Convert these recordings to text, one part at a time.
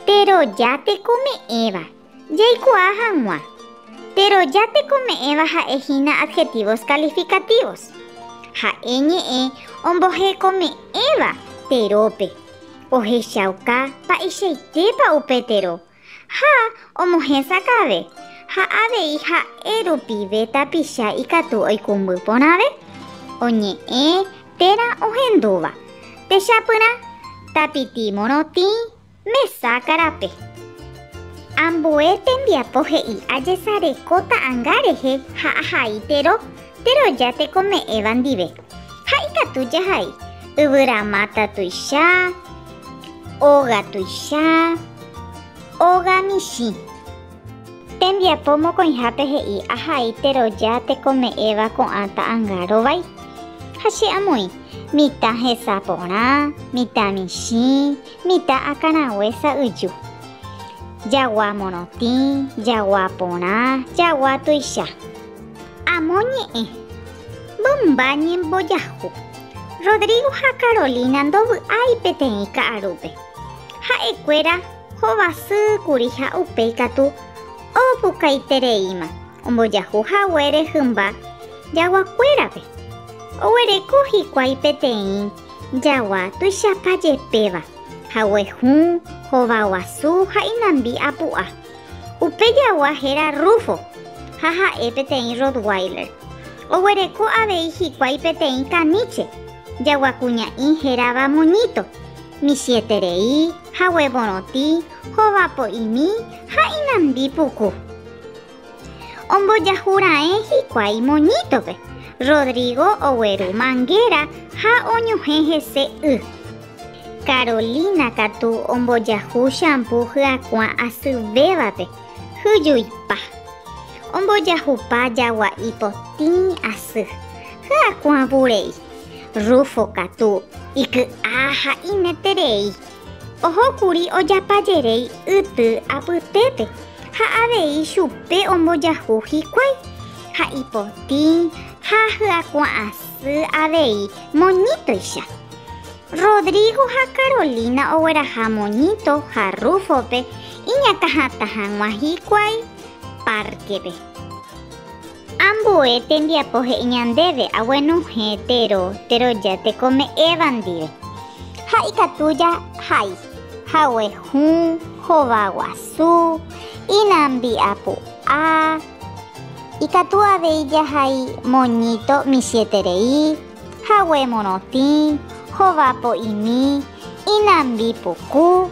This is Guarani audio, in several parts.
Teroja tekome'ẽva. Jaikuaa hag̃ua. Teroja tekome'ẽva ha'e hína adjetivos calificativos. Ha'e ñe'ẽ ombohekome'ẽva terópe. Ohechauka mba'eichaitépa upe tero Ha omohesakãve, ha avei ha'e rupive tapicha ikatu oikũmby porãve, oñe'ẽ térã ohendúva, techapyrã, tapiti morotĩ, mesa karape. Ambue tembiapo he'i ajesareko ta'ãnga rehe ha ahai tero, teroja tekome'ẽva ndive. Ha ikatu jahai, yvyramáta tuicha. Óga tuicha, óga michĩ. Tembiapo mokõihápe he'i ahaíte roja tekome'ẽva ko'ã ta'anga rovái. Ha che amoĩ, mitã hesa porã, mitã michĩ, mitã akãraguésa yju. Jagua morotĩ, jagua porã, jagua tuicha. Amo ñe'ẽ, mymba ñembojahu. Rodrigo ha Carolina ndovy'ái peteĩ ka'arúpe. Ha'ekuéra hovasy kuri ha upéi katu opukaitereíma ombojahu haguére hymba jaguakuérape. Oguereko hikuái peteĩ jagua tuichapa jepéva, hague hũ, hova guasu ha inambi apu'a. Upe jagua héra Rufo ha ha'e peteĩ Rottweiler. Oguereko avei hikuái peteĩ kaníche, jaguakuña'i hérava moñíto, michĩeterei, haguevorõti, hovapo'imi ha inandi puku. Ombojahu raẽ hikuái moñítope, Rodrigo ogueru mangéra ha oñuhẽ hese y. Carolina katu ombojahu shampoo hyakuã asyvévape, hyjuipa. Ombojahupa jagua'i potĩ asy, hyakuã vurei. Rufo katu, iky'a ha ineterei, oho kuri ojapajerei yty apytépe ha avei chupe ombojahu hikuái, ha ipotĩ ha hyakuã asy avei moñítoicha. Rodrigo ha Carolina ogueraha moñito ha Rufo-pe iñakãhatã hag̃ua hikuái párkepe. Ambue tembiapo he'i ñandéve aguenohẽ tero teroja tekome'ẽva ndive, ha ikatu jahai hague hũ, hova guasu, inambi'apu'a, ikatu avei jahai moñito michĩeterei, hague morotĩ, hova po'imi, inambi puku,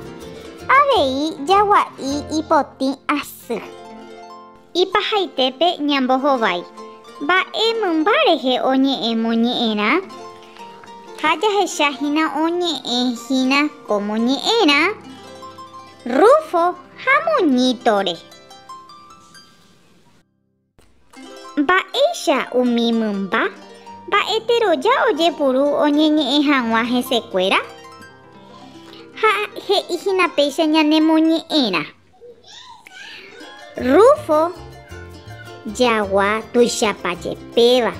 avei jagua'i ipotĩ asy. Ipahaitépe ñambohovái mba'e mymba rehe oñe'ẽ moñe'ẽrã ha jahecha hína oñe'ẽ hína ko moñe'ẽrã Rufo ha Moñítore. Mba'éicha umi mymba mba'eteroja ojepuru oñeñe'ẽ hag̃ua hesekuéra? Ha he'i hína péicha ñanemoñe'ẽrã. Rufo jagua tuichapa jepéva,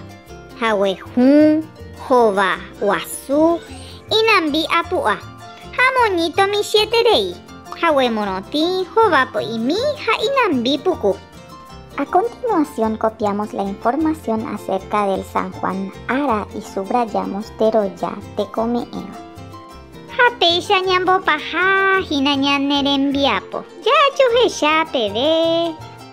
hague hũ, hova guasu, inambi apu'a, ha moñito michĩeterei, hague morotĩ, hova po'imi ha inambi puku. A continuación copiamos la información acerca del San Juan Ara y subrayamos teroja tekome'ẽva. Ha péicha ñambopaha hína ñane rembiapo. Jajohecha peve.